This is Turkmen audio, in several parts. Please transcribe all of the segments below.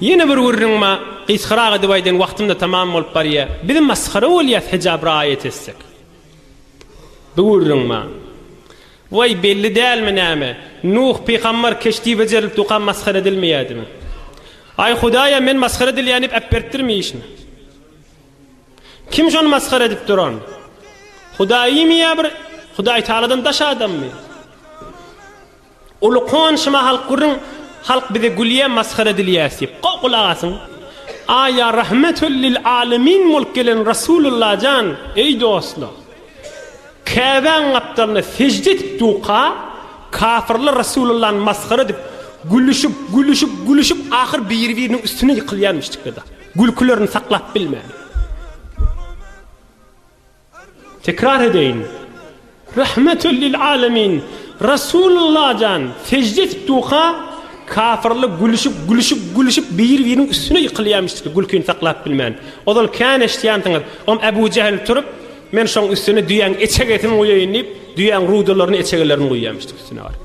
Ýene bir gürrüňme gysgarak edip aýdaýyn wagtymda tamam bolup barýa. Biz masgara bolýas hijab raýat etsek. Bu gürrüňme. Waý belli dälmi näme. Nuh pygambar keşdi bejerilip duka masgara edilmeýädimi. Aý hudaýa men masgara edilýän diýip äpbertdirmi işini. Kim şony masgara edip duran. Hudaýmy ýa bir hudaýtagaladan daş adammy. Uly konşuma halk gürrüň halk bize gülýä masgara edilýäs diýip. Gowy gulak asyň. Aý ýa rahmetül lil alemin bolup gelen Rasululla jan eý dostlar. Käbäň gapdalyna sejde edip duka kafyrlar Rasulullany masgara edip gülüşip gülüşip gülüşip ahyr biri biriniň üstüne ýykylýar müştikler da. Gülkülerini saklap bilmän. Tekrar edeýin. Rahmetül lil alemin Rasulullah jan sejde edip duka kafyrlar gülüşip gülüşip gülüşip biri biriniň üstüne ýykylýamyşdy gülkini saklap bilmän ozal kän eşitýansyňyz om Ebu Jehl turup men şoň üstüne düýäň eçegesini guýaýyn diýip düýäň rudalaryny eçegelerini guýýamyşdy üstüne baryp.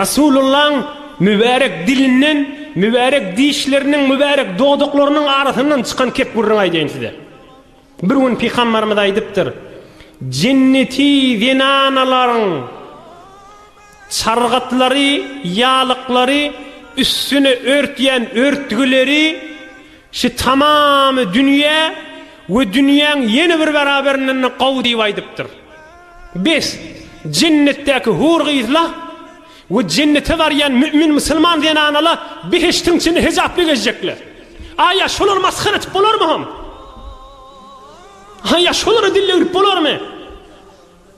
Resulyllaň mübärek dilinden, mübärek dişleriniň, mübärek dodaklarynyň arasyndan çykan kepgürrüňi aýdaýyn size. Bir gün Pygamberimiz aýdypdyr, Jenneti zenanalaryň çargatlary, ýalyklary, üstüni örtýän örtgüleri şu tamamy dünýä we dünýäň ýene bir bäraberinden-de gowy diýip aýdypdyr. Bes, jennetdäki hur-gyzla we jennete barýan mümin musulman zenanala behiştiň içinde hejaply gezjekler. Aýa şolary masgara edip bolarmy hom? Aýa şolara dil döwrüp bolarmy?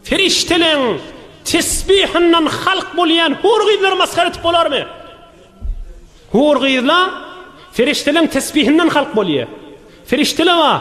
Perişdeleň tesbihinden halk bolýan hur-gyzlary masgara edip bolarmy? Hur-gyzla perişdeleň tesbihinden halk bolýar. Perişdele bar.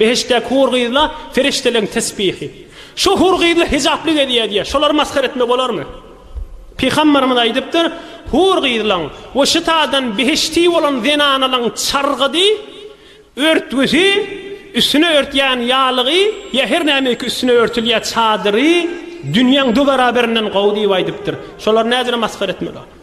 Behiştdäki hur gyzla perişdeleň tesbihi. Şu hur gyzla hijaply gezýär diýýär. Şolary masgara etme bolarmy? Pygamberimiz aýdypdyr, Hur gyzlaň we şytadan behişdi bolan zenanalaň çargydy, örtgüsi, üstüne örtýän ýalygy ýa her nämeýki üstüne örtülýä çadyry dünýäň dü beraberinden gowy diýip aýdypdyr. Şolary nädire masgara etme bolarmy?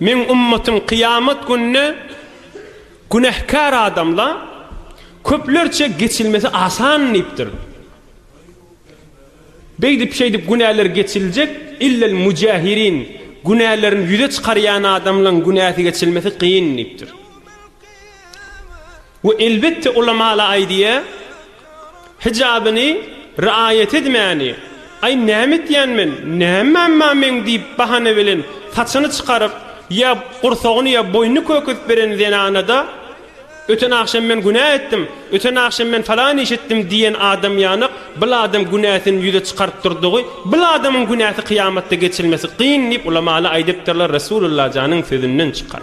Meň ümmetim kyýamat gününe günähkär adamla köplerçe geçilmesi asan diýipdir. Beýdip-şeýdip günäler geçiljek, illel müjahirin, günälerini ýüze çykarýan adamlaň günäsi geçilmesi kyn diýipdir. We elbetde ulamaly aýdýa, hijabyny riaýat edmäni, Aý näme etýän men, näme mamma meň diýip bahana bilen saçyny çykaryp, ýa gursagyny ýa boýnuny köküzip beren zenanada, Öten agşam men günä etdim, öten agşam men falan iş etdim diýen adam ýanak bil adam günäsini ýüze çykaryp durdugy bil adamyň günäsi kyýamatda geçilmesi kyn diýip ulamaly aýdypdyrlar Resulullah janyň sözünden çykan.